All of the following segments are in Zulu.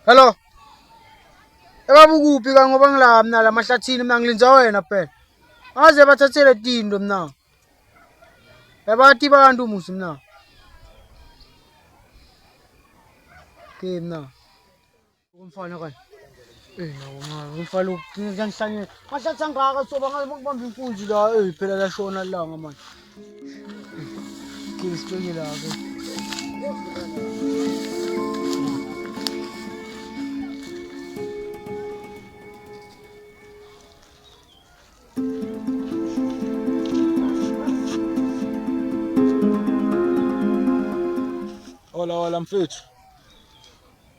Hello. Ebaba ukuphi ka ngoba ngila mina la mahlathini mina ngilinza wena phela. Aze bathathele tindo mina. Ebati bantu musi mina. Ke mina. Umfana kani? Eh nawo mncane umfana uqinisa ngihlanyela. Mahlathi angaka soba ngaze makubamba inkunzi la eh phela la shona langa manje. Qinisa ipenye la ke. Hola hola mfethu.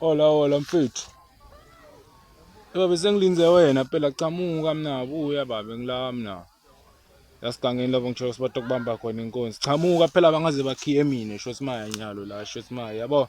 Hola hola mfethu. Eba bese ngilinze wena phela chamuka mina buya babe ngila mina. Yasigangeni lapho ngisho sibathi kubamba khona inkonzi. Chamuka phela bangaze bakhiye mina sho simaya nyalo la sho simaya yabo.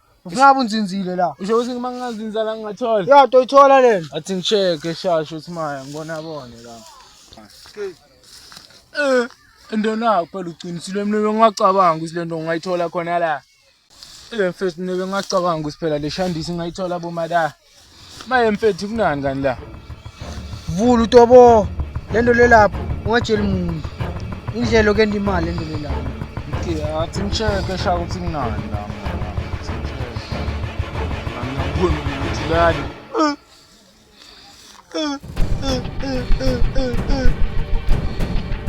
Usingabe unzinzile la. Usho ukuthi uma ngingazinza la ngingathola. Ya toyithola lena. Athi ngisheke shasho ukuthi maya ngibona bone la. Eh, ndona phela uqinisile mina bengingacabanga ukuthi lento ngingayithola khona la. Eh, mfethu mina bengingacabanga ukuthi phela le shandisi ngingayithola bomada. maye mfethu kunani kani la vula utobo le nto lelapho ungatsheli muntu indlela okenda imali le nto lelapho okay athi ngisheke shaka ukuthi kunani la angiyaboni ukuthi lani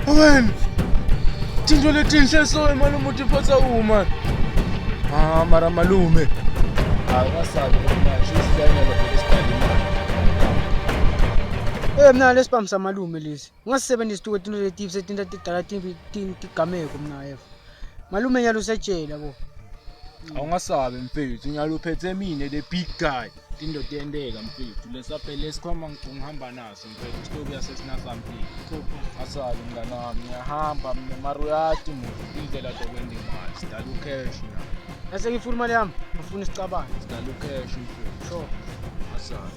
Amen. Tintfo letinhle so imali umuthi iphatsa kuwo mani. Ah mara malume. Awukasabi manje usidanyela bese sidala imali. Eh mna lesibhamu samalume lesi. ungasisebenzisi tuke tinto letibi setinta tidala tigameko mna yeva malume nyalo usejela bo awungasabi mfethu nyalo uphethe mina the big guy into tiyenteka mfethu lesaphele sikhomba ngihamba naso mfethu sitokuya sesinasampile asali mngani wami ngiyahamba mina mara uyati muva indlela zokwenza imali sidala ucash na ese ngifuna imali yami ngifuna isicabane sidala ucash mfethu sure asali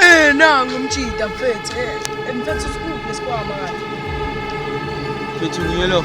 Eh nangu umjita mfethu. Eh mfethu sikuphi isikwama kanti? Mfethu ngiyelo.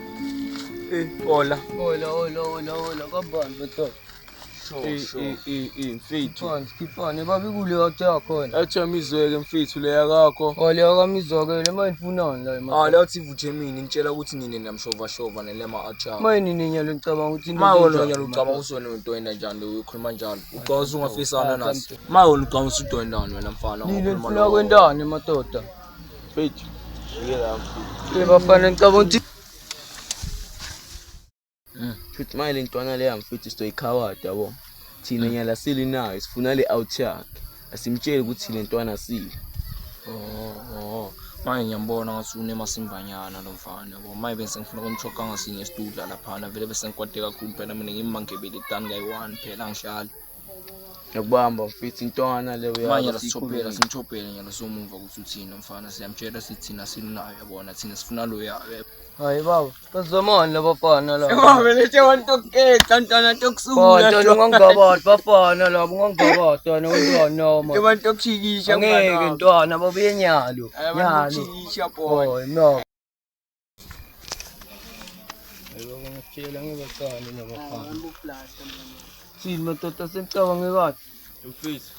Eh, hola. Hola, hola, hola, hola. Kabani bethwa. Eh, eh, eh, eh, mfethu. Khona, sikhona. Baba ikule wathi yakhona. Athi amizweke mfethu leya kakho. Oh, leya kamizweke le manje ifunani la imali. Ah, leyo thi vuthe mina initshela ukuthi nini namshova shova nelema acha. Manje nini nyalo ngicabanga ukuthi into Ma wona enjani, nyalo ucabanga manje. usona udwenda njani ukhuluma njalo. Ucabanga ungafisana naso. Ma wona ucabanga usudwendana wena mfana. Nini ukhuluma nifuna nawe. kwendani madoda? Mfethu. Ngeke la mfethu. Bafana ngicabanga ukuthi Mm. Futhi manje le ntwana leya mfethu sizoyikhawada yabo. Thina Mm. nyala sili nayo sifuna le out yakhe. Asimtsheli ukuthi le ntwana sile. Oh, oh. Manje ngiyambona ngathi unemasimvanyana lo mfana yabo. Manje bese ngifuna kumchoka ngasinye isidudla laphana vele bese ngikwade kakhulu phela mina ngimmangebele tani kayi-one phela angihlali. Ngiyakubamba mfethu intwana le uyazi. Manje lasichopela simchopele nje losomumva ukuthi uthini umfana siyamtshela sithi thina silunayo yabona thina sifuna loya. Hayi baba, bazomona laba bafana laba. Baba belethe wantu okukhetha ntwana tokusungula. Baba ntwana ungangabati bafana laba ungangabati wena ungizwa noma. Ke bantu okushikisha ngeke ntwana babuye nyalo. Nyalo. Babuye nyalo. Ngitshela ngibacane nabafana. Sini madoda senicabange kahle. Mfethu.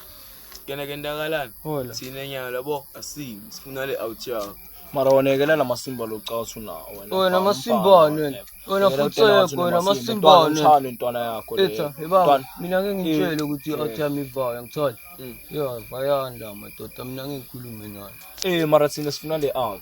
Kena kentakalani? Hola. Sine nyalo yabo asimi sifuna le out yakho. Mara wanekela namasimba locasu na wena. Wena amasimbane wena. Wena futhi yekho wena amasimbane. Ngithanda intwana yakho le. Etha, yibaba mina ngeke ngitshele ukuthi out yami ivaya ngithola. Mm. Yeah, bayanda madoda mina ngeke ngikhulume nayo. Eh mara thina sifuna le out.